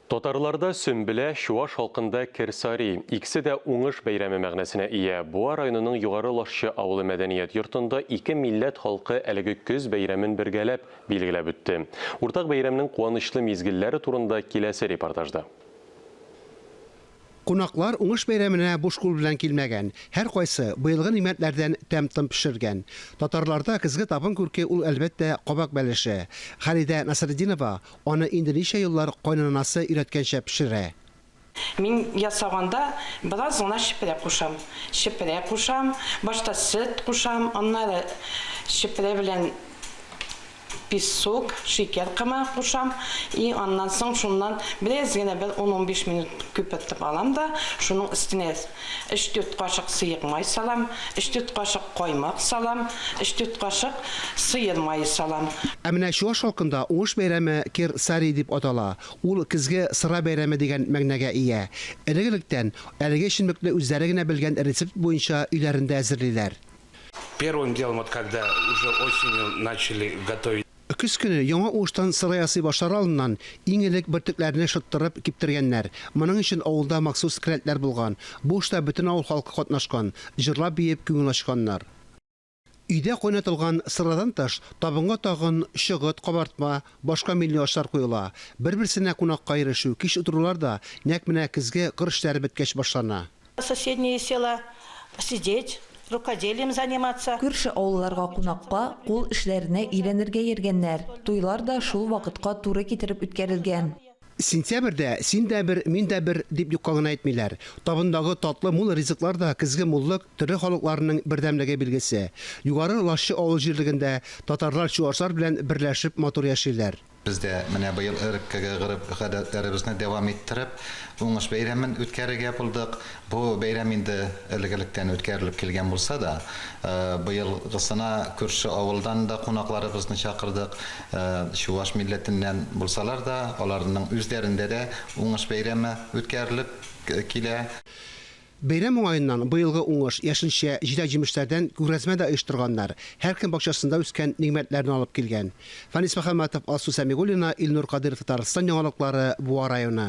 Татарларда Сөмбелә, чуаш халкында Керсари, икесе дә уңыш бәйрәме мәгънәсенә ия. Буа районының Югары Лашчы авылы мәдәният йортында ике милләт халкы әлеге көз бәйрәмен бергәләп билгеләп үтте. Уртак бәйрәмнең куанычлы мизгелләре турында киләсе репортажда. Кунаклар Уңыш бәйрәменә буш кул белән килмәгән, һәркайсы быелгы нигъмәтләрдән тәм-том пешергән. Татарларда көзге табын күрке ул, әлбәттә, кабак бәлеше. Халидә Насретдинова аны инде ничә еллар кайнананасы өйрәткәнчә пешерә. Мин ясаганда бераз гына чепрә кушам. Чепрә кушам, башта сөт кушам, аннары чепрә белән Песок, шикәр комы кушам. И аннан соң шуннан бераз генә бер ун-унбиш минут күпертеп алам да, шуның өстенә өч-дүрт кашык сыек май салам, өч-дүрт кашык каймак салам, өч-дүрт кашык сыер мае салам. Ә менә чуаш халкында уңыш бәйрәме Кер Сари дип атала. Ул көзге сыра бәйрәме дигән мәгънәгә ия. Элек-электән, әлеге эчемлекне үзләре генә белгән рецепт буенча өйләрендә әзерлиләр. Первым делом вот когда уже осенью начали готовить. Көз көне яңа уңыштан сыра ясый башлар алдыннан, иң элек бөртекләрне шыттырып, киптергәннәр. Моның өчен авылда махсус келәтләр булган. Бу эштә бөтен авыл халкы катнашкан, җырлап-биеп күңел ачканнар. Өйдә кайнатылган сырадан тыш, табынга тагын чыгыт, кабартма, башка милли ашлар куела. Бер-берсенә кунакка ирешү, кич утырулар да нәкъ менә көзге кыр эшләре беткәч башлана. Соседние села сидеть, рукоделием заниматься. Күрше авылларга кунакка, кул эшләренә өйрәнергә йөргәннәр. Туйлар да шул вакытка туры китереп үткәрелгән. Сентябрьдә син дә бер, мин дә бер дип юкка гына әйтмиләр. Табындагы татлы, мул ризыклар да көзге муллык, төрле халыкларның бердәмлеге билгесе. Югары Лашчы авыл җирлегендә татарлар чуашлар белән берләшеп матур яшиләр. Без дә менә быел элеккеге гореф-гадәтләребезне дәвам иттереп, Уңыш бәйрәмен үткәрергә булдык. Бу бәйрәм инде элек-электән үткәрелеп килгән булса да, быелгысына күрше авылдан да кунакларыбызны чакырдык. Чуваш милләтеннән булсалар да, аларның үзләрендә дә Уңыш бәйрәме үткәрелеп килә. Бәйрәм уңаеннан быелгы уңыш, яшелчә, җиләк-җимешләрдән күргәзмә дә оештырганнар, һәркем бакчасында үскән нигъмәтләрне алып килгән. Фанис Мөхәммәтов, Алсу Сәмигуллина, Илнур Кадыйров Татарстан яңалыклары, Буа районы.